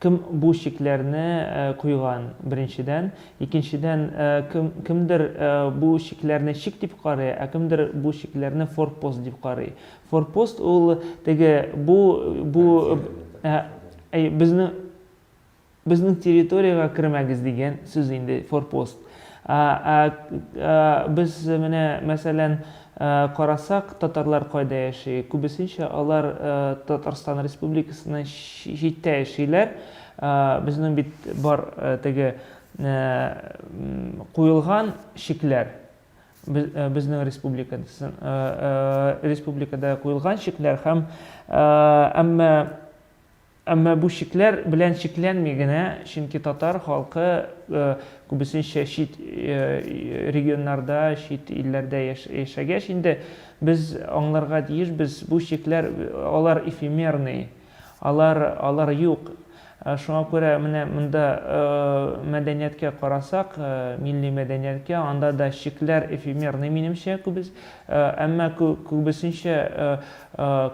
Кем бу чикләрне куйган, беренчедән. Икенчедән, кем, кемдер бу чикләрне чик дип карый, ә кемдер бу чикләрне форпост дип карый. Форпост ул теге, бу, бу, әй, безнең, безнең территориягә кермәгез дигән сүз инде, форпост. Ә, ә, ә без менә, мәсәлән, карасак, татарлар кайда яши? Күбесенчә алар Татарстан Республикасыннан читтә яшиләр. Безнең бит бар теге куелган чикләр, безнең республика, республикада куелган чикләр һәм, әмма Әмма бу чикләр белән чикләнми генә, чөнки татар халкы күбесенчә чит регионнарда, чит илләрдә яшәгәч инде, без аңларга тиешбез, бу чикләр, алар эфемерный, алар, алар юк. Шуңа күрә менә монда мәдәнияткә карасак, милли мәдәнияткә, анда да чикләр эфемерный, минемчә, күбес, әмма күбесенчә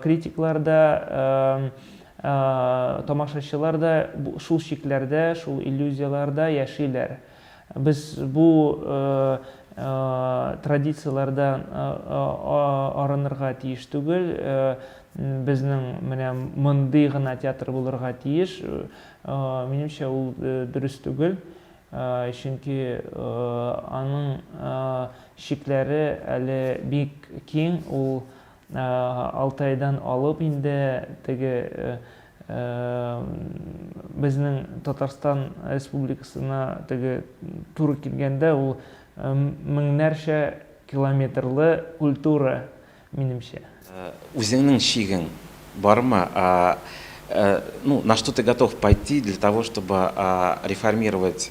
критиклар да, Тамашачылар да шул чикләрдә, шул иллюзияләрдә яшиләр. Без бу традицияләрдән арынырга тиеш түгел. Безнең менә мондый гына театр булырга тиеш. Минемчә, ул дөрес түгел. Чөнки аның чикләре әле бик киң. Ул Алты айдан алып инде теге безнең Татарстан Республикасына теге туры килгәндә ул меңнәрчә километрлы культура минемчә. Үзеңнең чигең бармы? Ну, на что ты готов пойти для того чтобы реформировать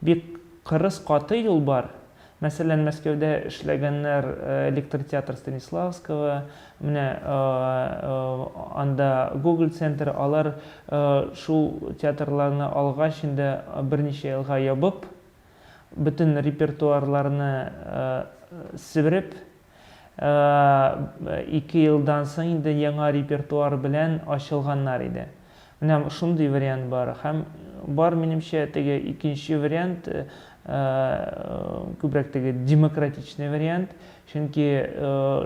Бик кырыс каты юл бар. Мәсәлән, Мәскәүдә эшләгәннәр Электротеатр Станиславского, менә анда Гоголь центры, алар шул театрларны алгач инде берничә елга ябып, бөтен репертуарларны себереп, Ике елдан соң инде яңа репертуар белән ачылганнар иде. Менә шундый вариант бар. Һәм бар, минемчә, теге икенче вариант, күбрәк теге демократичный вариант. Чөнки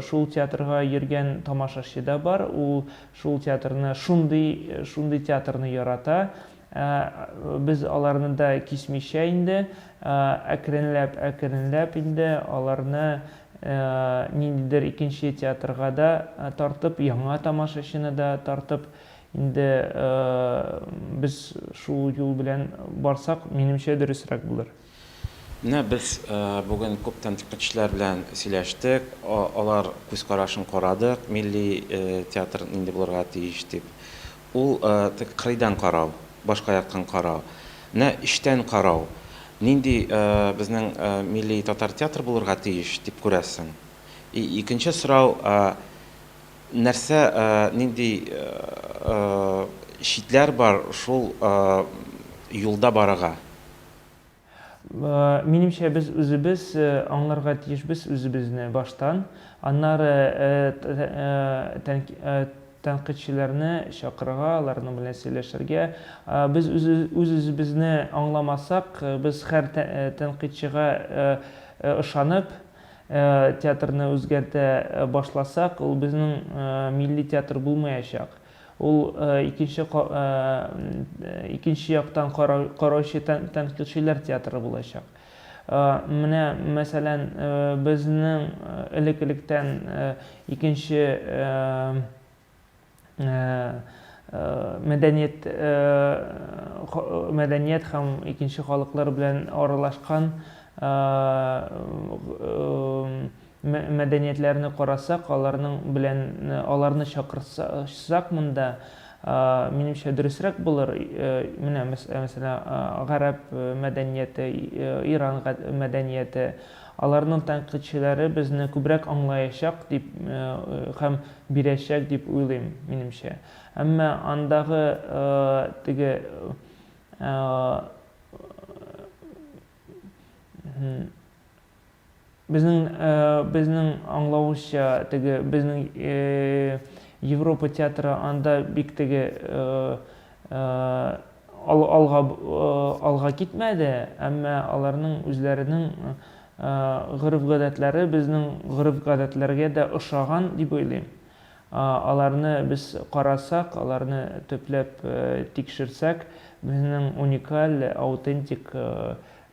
шул театрга йөргән тамашачы да бар, ул шул театрны, шундый, шундый театрны ярата. Ә без аларны да кисмичә инде, әкренләп-әкренләп инде аларны ниндидер икенче театрга да тартып, яңа тамашачыны да тартып, инде без шул юл белән барсак, минемчә, дөресрәк булыр. Менә без бүген күп тәнкыйтьчеләр белән сөйләштек, алар күз карашын карадык, милли театр нинди булырга тиеш дип. Ул теге кырыйдан карау, башка яктан карау. Менә эчтән карау, нинди безнең милли татар театры булырга тиеш дип күрәсең. И икенче сорау, нәрсә, нинди читләр бар шул юлда барырга? Минемчә, без үзебез аңларга тиешбез үзебезне баштан, аннары тәнкыйтьчеләрне чакырырга, аларның белән сөйләшергә. Без үз-үзебезне аңламасак, без һәр тәнкыйтьчегә ышанып, театрны үзгәртә башласак, ул безнең милли театр булмаячак. Ул икенче икенче яктан караучы тәнкыйтьчеләр театры булачак. Менә, мәсәлән, безнең элек-электән икенче мәдәният мәдәният һәм икенче халыклар белән аралашкан Мәдәниятләрне карасак, аларның белән аларны чакырсак монда, минемчә, дөресрәк булыр. Менә, мәсәлән, гарәп мәдәнияте, Иран мәдәнияте. Аларның тәнкыйтьчеләре безне күбрәк аңлаячак дип һәм бирәчәк дип уйлыйм, минемчә. Әмма андагы теге Безнең, безнең аңлавыбызча, теге, безнең Европа театры анда бик теге алга, алга китмәде, әмма аларның үзләренең гореф-гадәтләре безнең гореф-гадәтләргә дә ошаган дип уйлыйм. Аларны без карасак, аларны төпләп тикшерсәк, безнең уникаль, аутентик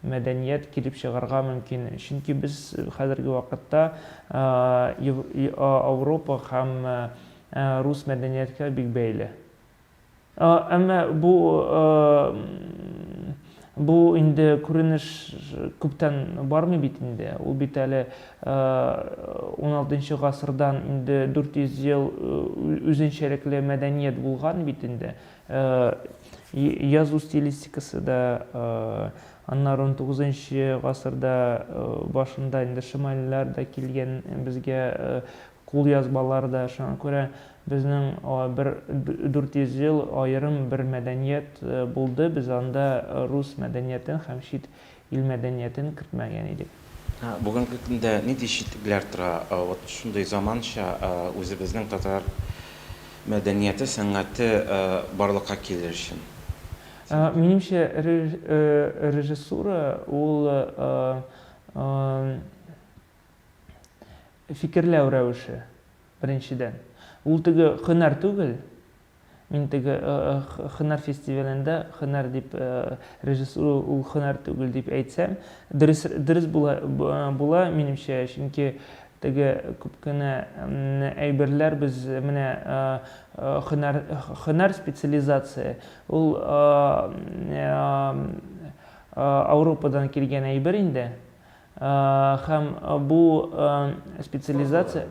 мәдәният килеп чыгарга мөмкин, чөнки без хәзерге вакытта Ауропа һәм рус мәдәнияткә бик бәйле. Әмма бу бу инде күренеш күптән бармый бит инде. Ул бит әле уналтынчы гасырдан инде дүрт йөз ел үзенчәлекле мәдәният булган бит инде. Язу стилистикасы да аннары унтугызынчы гасырда башында инде шимальләр дә килгән безгә кулъязмалар да, шуңа күрә безнең бер дүрт йөз ел аерым бер мәдәният булды, без анда рус мәдәниятен һәм чит Ил мәдәниятен кертмәгән идек. Бүгенге көндә нинди читлекләр тора вот шундый заманча үзебезнең татар мәдәнияте, сәнгате барлыкка килер өчен? Минемчә, режиссура ул фикерләү рәвеше, беренчедән. Ул теге һөнәр түгел. Мин теге хөнәр фестивалендә хөнәр дип режиссура ул хөнәр түгел дип әйтсәм, дөрес дөрес була була минемчә, чөнки теге күп кенә әйберләр без менә хөнәр хөнәр специализация ул Ауропадан килгән әйбер инде. Һәм бу специализация...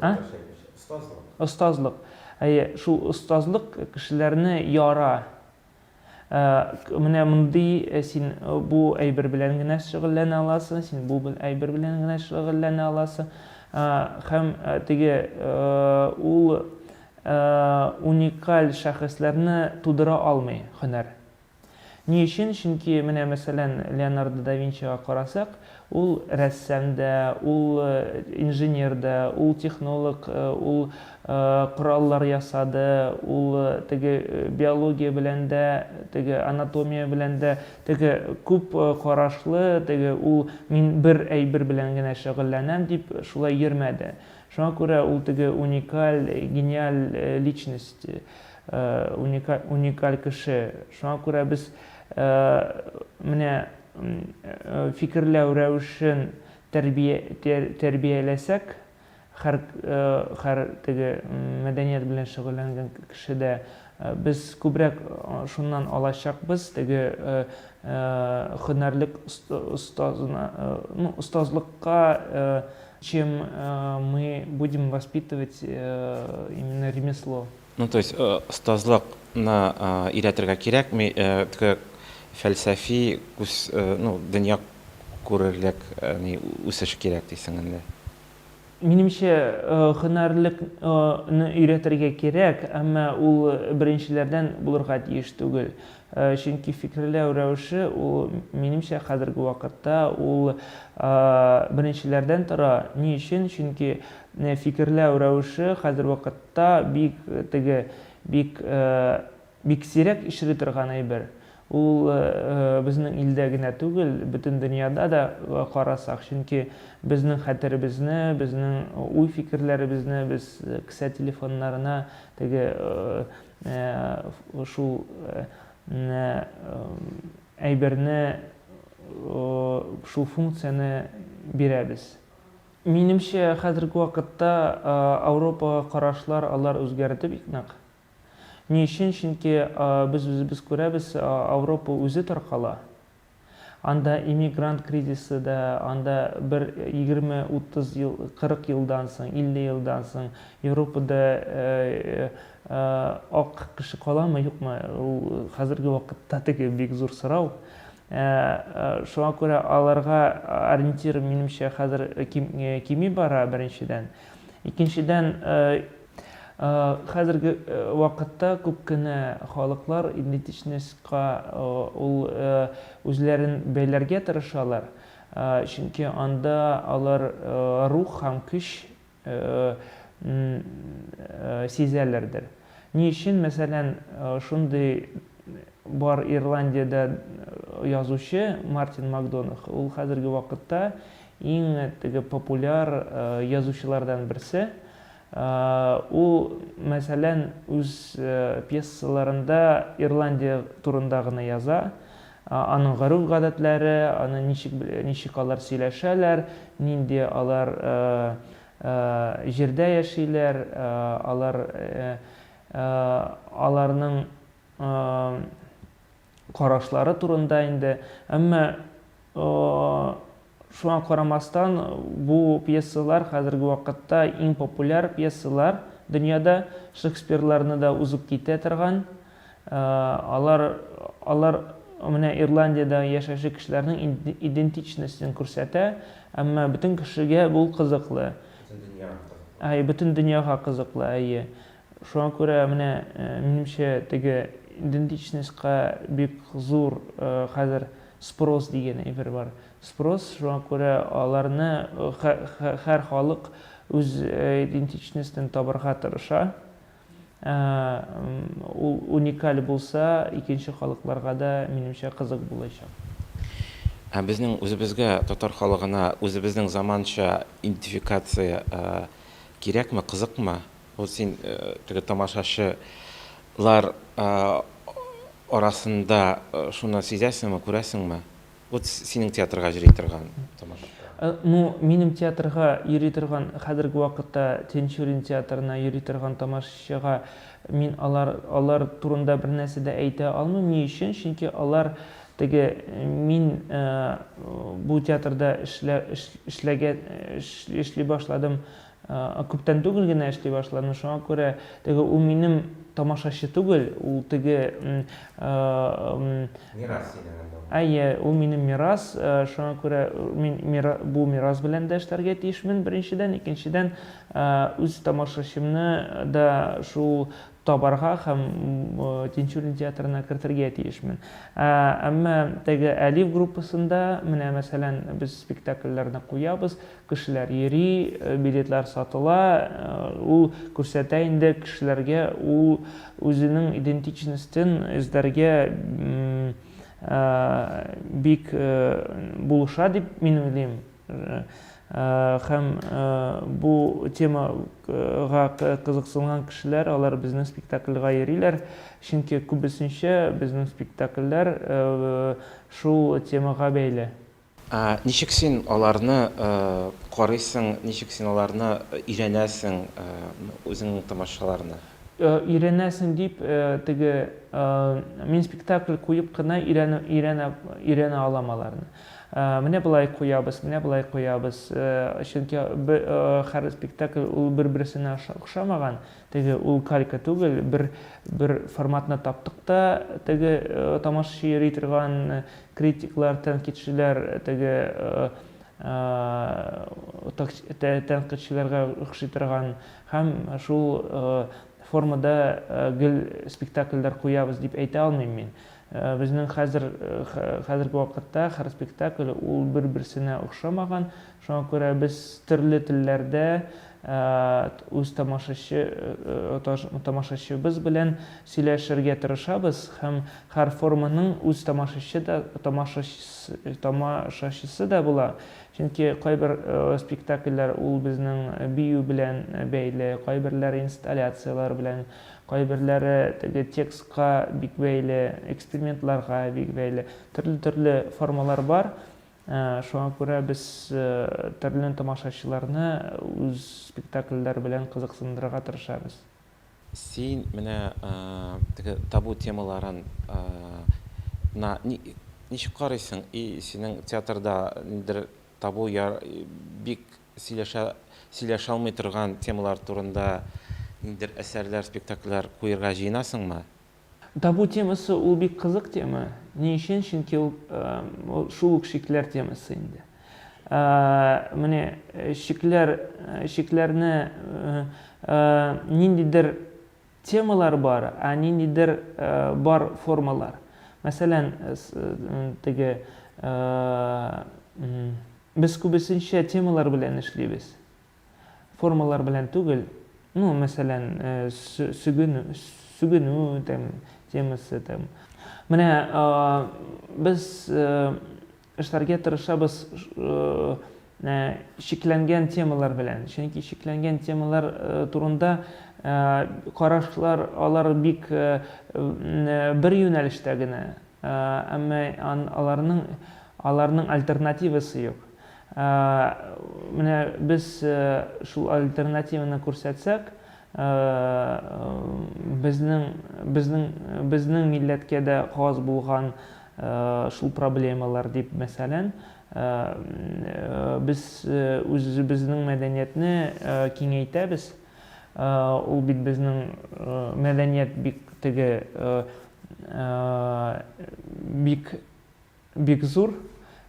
Остазлык. Остазлык. Әйе, шул остазлык кешеләрне яра. Менә мондый син бу әйбер белән генә шөгыльләнә аласың, син бу әйбер белән генә шөгыльләнә аласың. Һәм теге ул уникаль шәхесләрне тудыра алмый һөнәр. Ни өчен? Чөнки, менә, мәсәлән, Леонардо да Винчига карасак, ул рәссам да, ул инженер да, ул технолог, ул кораллар ясады, ул теге биология белән дә, теге анатомия белән дә, теге күп карашлы, теге ул мин бер әйбер белән генә шөгыльләнәм дип шулай йөрмәде. Шуңа күрә ул теге уникаль, гениаль личность. уникаль, уникаль кеше. Шуңа күрә без менә фикерләү рәвешен тәрбия, тәр, тәрбияләсәк, хәр, хәр теге мәдәният белән шөгыльләнгән кеше дә без күбрәк шуннан алачакбыз, теге һөнәрлек остазына, ну, остазлыкка чем мы будем воспитывать именно ремесло. Ну, то есть, э, остазлыкны э, өйрәтергә кирәкми, э, т- фәлсәфи күз, э, ну, дөнья күрерлек э, ни, үсеш кирәк дисең инде. Минемчә, э, һөнәрлек, э, ны өйрәтергә кирәк, әмма ул э, беренчеләрдән булырга тиеш түгел. Э, Чөнки фикерләү рәвеше ул, минемчә, хәзерге вакытта ул э, беренчеләрдән тора. Ни өчен? Чөнки фикерләү рәвеше хәзер вакытта бик теге, бик, бик сирәк очрый торган әйбер. Ул безнең илдә генә түгел, бөтен дөньяда да карасак, чөнки безнең хәтеребезне, безнең уй-фикерләребезне без кесә телефоннарына теге шул әйберне, шул функцияне бирәбез. Минемчә, хәзерге вакытта Ауропага карашлар алар үзгәрде бик нык. Ни өчен? Чөнки без үзебез күрәбез, Ауропа үзе таркала. Анда иммигрант кризисы да, анда бер егерме, утыз ел, кырык елдан соң, илле елдан соң Европада ак кеше каламы, юкмы, ул хәзерге вакытта теге бик зур сорау. Ә шуңа күрә аларга ориентир, минемчә, хәзер кими бара, беренчедән. Икенчедән, хәзерге вакытта күп кенә халыклар идентичностька ул үзләрен бәйләргә тырышалар, чөнки анда алар рух һәм көч н сизәләрдер. Ни өчен, мәсәлән, шундый бар Ирландиядә язучы Мартин Макдонах, ул хәзерге вакытта иң теге популяр язучылардан берсе. Ул, мәсәлән, үз пьесаларында Ирландия турында гына яза, Аның гореф-гадәтләре, аны ничек, ничек алар сөйләшәләр, нинди алар җирдә яшиләр, алар, аларның карашлары турында инде. Әмма Шуңа карамастан, бу пьесалар хәзерге вакытта иң популяр пьесалар дөньяда, Шекспирларны да узып китә торган. Алар, алар менә Ирландиядә яшәүче кешеләрнең идентичностен күрсәтә, әмма бөтен кешегә бу кызыклы. Бөтен дөньяга кызыклы. Әй, бөтен дөньяга кызыклы, әйе. Шуңа күрә менә, минемчә, теге идентичностька бик зур хәзер спрос дигән әйбер бар. Спрос, шуңа күрә аларны һәр халык үз идентичностен табарга тырыша. Ул уникаль булса, икенче халыкларга да, минемчә, кызык булачак. Ә безнең үзебезгә, татар халыгына, үзебезнең заманча идентификация кирәкме, кызыкмы? Бу син теге тамашачы лар арасында шуны сизәсеңме, күрәсеңме? Вот синең театрга йөри торган тамашачылар. Ну, минем театрга йөри торган, хәзерге вакытта Тинчурин театрына йөри торган тамашачыга мин алар, алар турында бернәрсә дә әйтә алмыйм. Ни өчен? Чөнки алар теге мин бу театрда эшлә, эшләгән, эшли башладым Күптән түгел генә эшли башладым, шуңа күрә теге ул минем тамашачы түгел, ул теге... Мирас синең инде ул. Әйе, ул минем мирас, шуңа күрә мин бу мирас белән дә эшләргә тиешмен, беренчедән, икенчедән, үз тамашачымны да шул табарга һәм Тинчурин театрына кертергә тиешмен. Әмма теге Әлиф группасында, менә мәсәлән, без спектакльләрне куябыз, Кешеләр йөри, билетлар сатыла, ул күрсәтә инде кешеләргә, ул үзенең идентичностен эзләргә бик булыша дип мин уйлыйм. Һәм бу темага кызыксынган кешеләр, алар безнең спектакльга йөриләр, чөнки күбесенчә безнең спектакльләр шул темага бәйле. Ә ничек син аларны карыйсың, ничек син аларны өйрәнәсең, үзеңнең тамашачыларны? Өйрәнәсең дип, теге, мин спектакль куеп кына өйрәнә алам аларны. Менә болай куябыз, менә болай куябыз. Чөнки һәр спектакль ул бер-берсенә охшамаган, теге, ул калька түгел, бер форматны таптык та, теге, тамашачы йөри торган, Критиклар, тәнкыйтьчеләр теге тәнкыйтьчеләргә охшый торган һәм шул формада гел спектакльләр куябыз дип әйтә алмыйм мин. Безнең хәзер, хәзерге вакытта һәр спектакль ул бер-берсенә охшамаган, Шуңа күрә без төрле телләрдә үз тамашачыбыз белән сөйләшергә тырышабыз һәм һәр форманың үз тамашачы да, тамашачысы да була. Чөнки кайбер спектакльләр ул безнең бию белән бәйле, кайберләре инсталляцияләр белән, кайберләре теге текстка бик бәйле, экспериментларга бик бәйле. Төрле-төрле формалар бар. Шуңа күрә без төрле тамашачыларны үз спектакльләр белән кызыксындырырга тырышабыз. Син менә теге табу темаларын на ничек карыйсың и синең театрда ниндидер табу я бик сөйләшә сөйләшә алмый торган темалар турында ниндидер әсәрләр, спектакльләр куерга җыенасыңмы? Табу темасы ул бик кызык тема. Ни өчен? Чөнки ул шул ук шикләр темасы инде. Менә шикләр, шикләрне ниндидер темалар бар, а ниндидер бар формалар. Мәсәлән, теге без күбесенчә темалар белән эшлибез. формалар белән түгел, ну, мәсәлән, сүгенү, сүгенү там темасы там. Менә без эшләргә тырышабыз шикләнгән темалар белән, чөнки шикләнгән темалар турында карашлар алар бик бер юнәлештә генә, Әмма аларның аларның альтернативасы юк. Менә без шул альтернативаны күрсәтсәк, безнең безнең безнең милләткә дә хас булган шул проблемалар дип, мәсәлән, без үзебезнең мәдәниятне киңәйтәбез. Ул бит безнең мәдәният бик теге бик бик зур.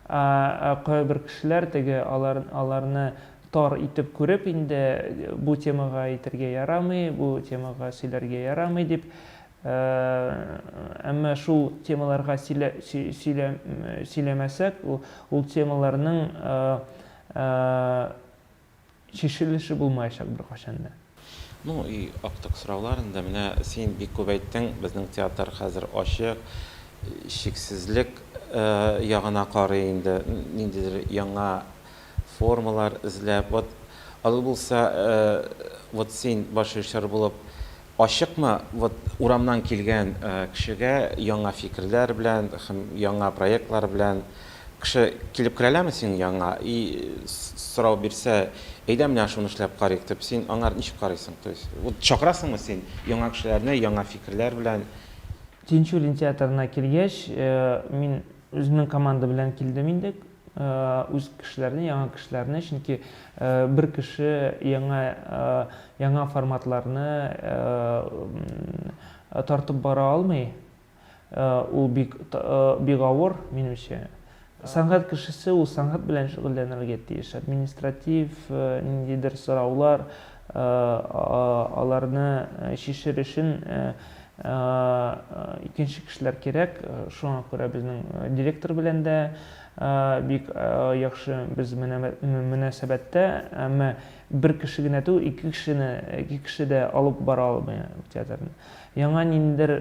Кайбер кешеләр теге алар аларны тар итеп күреп инде бу темага әйтергә ярамый, бу темага сөйләргә ярамый дип. Әмма шул темаларга сөйлә сөйлә сөйләмәсәк, ул темаларның Чишелеше булмаячак беркайчан да. Ну и актык сораулар инде, менә син бик күп әйттең, безнең театр хәзер ачык, чиксезлек ягына карый инде, ниндидер яңа формалар эзләп, вот алай булса, вот син башрежиссер булып, Ачыкмы, вот урамнан килгән кешегә яңа фикерләр белән һәм яңа проектлар белән кеше килеп керәләме синең яныңа и сорау бирсә, әйдә менә шуны эшләп карыйк дип, син аңар ничек карыйсың? То есть, вот чакырасыңмы син яңа кешеләрне яңа фикерләр белән? Тинчурин театрына килгәч, мин үземнең команда белән килдем инде, үз кешеләрне, яңа кешеләрне, чөнки бер кеше яңа, яңа форматларны тартып бара алмый, ул бик, бик авыр, минемчә. Сәнгать кешесе ул сәнгать белән шөгыльләнергә тиеш, административ ниндидер сораулар, Аларны чишер өчен икенче кешеләр кирәк. Шуңа күрә безнең директор белән дә бик яхшы без мөнәсәбәттә. Әмма бер кеше генә түгел, ике кешене, ике кеше дә алып бара алмый театрны. Яңа ниндидер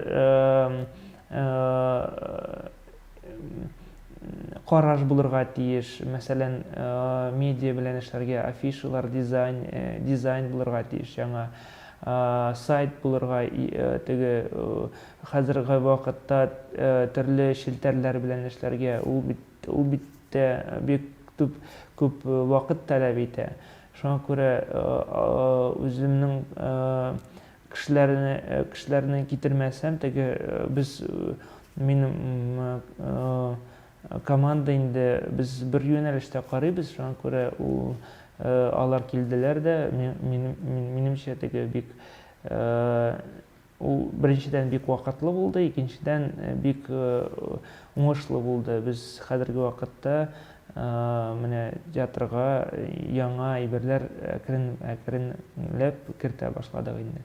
караш булырга тиеш. Мәсәлән, медиа белән эшләргә афишалар, дизайн, дизайн булырга тиеш яңа. Сайт булырга теге хәзерге вакытта төрле челтәрләр белән эшләргә ул бит ул бит тә бик төп күп вакыт таләп итә. Шуңа күрә үземнең Кешеләрне кешеләрне китермәсәм, теге без мин команда инде без бер юнәлештә карыйбыз, шуңа күрә ул алар килделәр дә, минемчә теге бик ул беренчедән бик вакытлы булды, икенчедән бик уңышлы булды. Без хәзерге вакытта Менә театрга яңа әйберләр әкрен-әкренләп кертә башладык инде.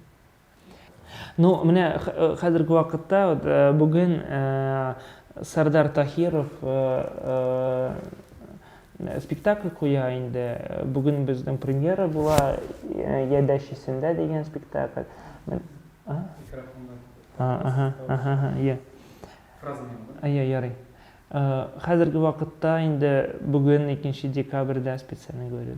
Ну, менә хәзерге вакытта, бүген Сәрдар Таһиров спектакль куя инде. Бүген безнең премьера була, Я дачисында дигән спектакль. Микрофоннан. Фраза. Йә, ярый. Хәзерге вакытта инде бүген икенче декабрьдә специальный говорю.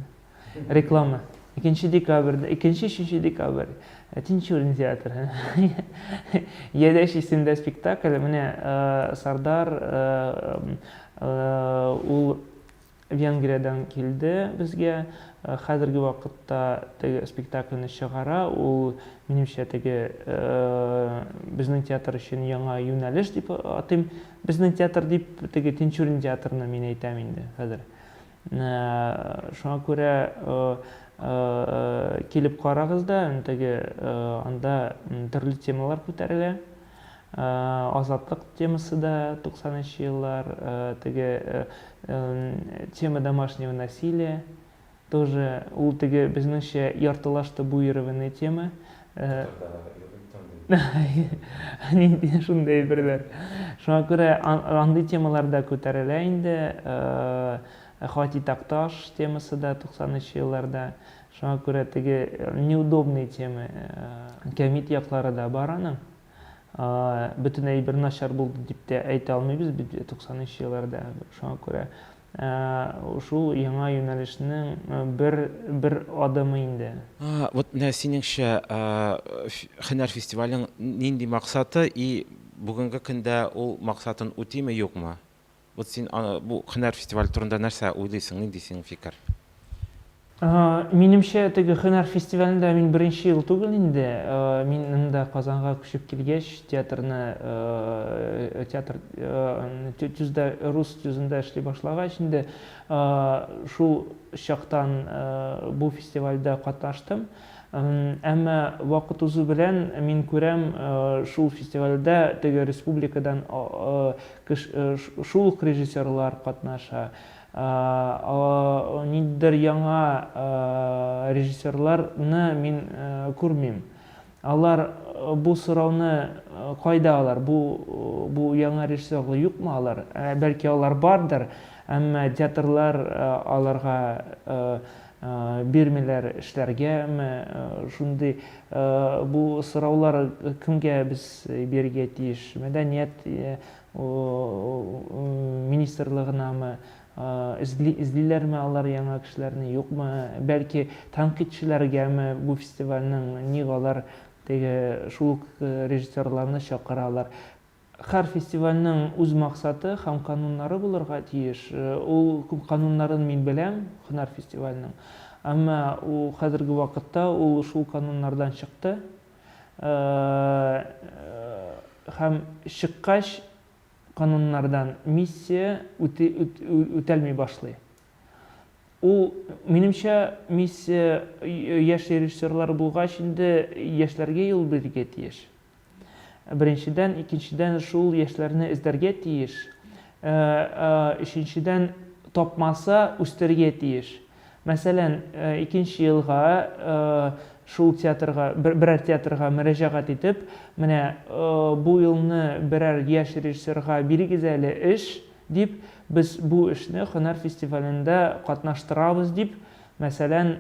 Реклама. Икенче декабрьдә, икенче, өченче декабрь. Э, Тинчурин театры. Ядәш исемдә спектакль. Менә э, Сардар э, ул Венгриядән килде безгә. Хәзерге вакытта теге спектакльне чыгара. Ул, минемчә, теге безнең театр өчен яңа юнәлеш дип атыйм. Безнең театр дип, теге Тинчурин театрны мин әйтәм инде хәзер. Шуңа күрә килеп карагыз да, теге анда төрле темалар күтәрелә. Азатлык темасы да 90 нчы еллар, теге тема домашнего насилия тоже, ул теге безнеңчә яртылаш табуированный тема. Нинди шундый әйберләр. Шуңа күрә андый темалар да күтәрелә инде. Хати Такташ темасы да 90 нчы елларда. Шуңа күрә теге неудобный тема, кәмит яклары да бар аның. Бөтен әйбер начар булды дип тә әйтә алмыйбыз бит 90 елларда. Шуңа күрә шул яңа юнәлешнең бер бер адымы инде. Вот менә синеңчә, һөнәр фестивалең нинди максаты и бүгенге көндә ул максатын үтиме, юкмы? Вот син аны, бу һөнәр фестивале турында нәрсә уйлыйсың, нинди синең фикер? Минемчә, теге һөнәр фестивалендә мин беренче ел түгел инде. Мин инде Казанга күчеп килгәч, театрны, театр төздә, рус төзендә эшли башлагач инде, шул чактан бу фестивальдә катнаштым. Әмма вакыт узу белән мин күрәм, шул фестивальдә теге республикадан Шул ук режиссерлар катнаша. Ниндидер яңа режиссерларны мин күрмим. Алар бу сорауны кайда алар? Бу бу яңа режиссерлар юкмы алар? Бәлки алар бардыр, әмма театрлар аларга Бирмиләр эшләргә ме шундый? Бу сораулар кемгә без бирергә тиеш? Мәдәният министрлыгынамы? Эзли, эзлиләрме алар яңа кешеләрне, юкмы? Бәлки тәнкыйтьчеләргәме бу фестивальнең? Ник алар теге шул ук режиссерларны чакыралар? Һәр фестивальнең үз максаты һәм кануннары булырга тиеш. Ул кануннарын мин беләм, һөнәр фестивальнең. Әмма хәзерге вакытта ул шул кануннардан чыкты. Һәм чыккач, кануннардан миссия үтәлми башлый. Ул, минемчә, миссия яшь режиссерлар булгач инде, яшьләргә юл бирергә тиеш. Беренчедән, икенчедән шул яшьләрне эзләргә тиеш. Өченчедән, тапмаса, үстерергә тиеш. Мәсәлән, икенче елга шул театрга, берәр театрга мөрәҗәгать итеп, менә бу елны берәр яшь режиссерга бирегез әле эш, дип, без бу эшне һөнәр фестивалендә катнаштырабыз, дип, мәсәлән,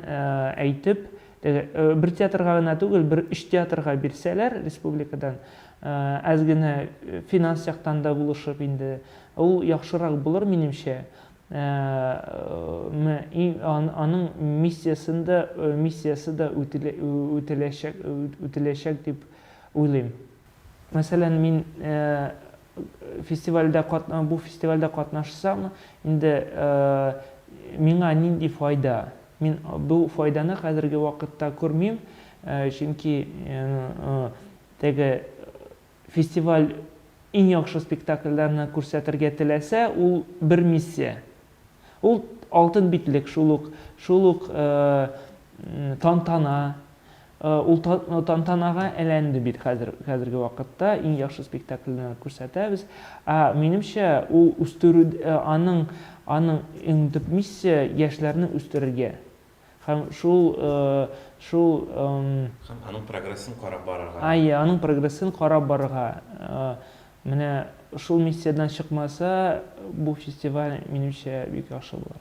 әйтеп, Бер театрга гына түгел, бер өч театрга бирсәләр республикадан, әз генә финанс яктан да булышып инде, ул яхшырак булыр, минемчә. Аның миссиясен дә, миссиясе дә үтәләчәк, үтәләчәк дип уйлыйм. Мәсәлән, мин, Фестивальдә катна бу фестивальдә катнашсам, инде миңа нинди файда? Мин бу файданы хәзерге вакытта күрмим, чөнки теге фестиваль иң яхшы спектакльләрне күрсәтергә теләсә, ул бер миссия. Ул алтын битлек, шул ук, шул ук тантана, Ул тантанага әйләнде бит хәзер, хәзерге вакытта иң яхшы спектакльне күрсәтәбез. Ә минемчә, ул үстерү, аның, аның иң төп миссия, яшьләрне үстерергә һәм шул, шул. Һәм аның прогрессын карап барырга. Әйе, аның прогрессын карап барырга. Менә шул миссиядән чыкмаса, бу фестиваль, минемчә, бик яхшы булыр.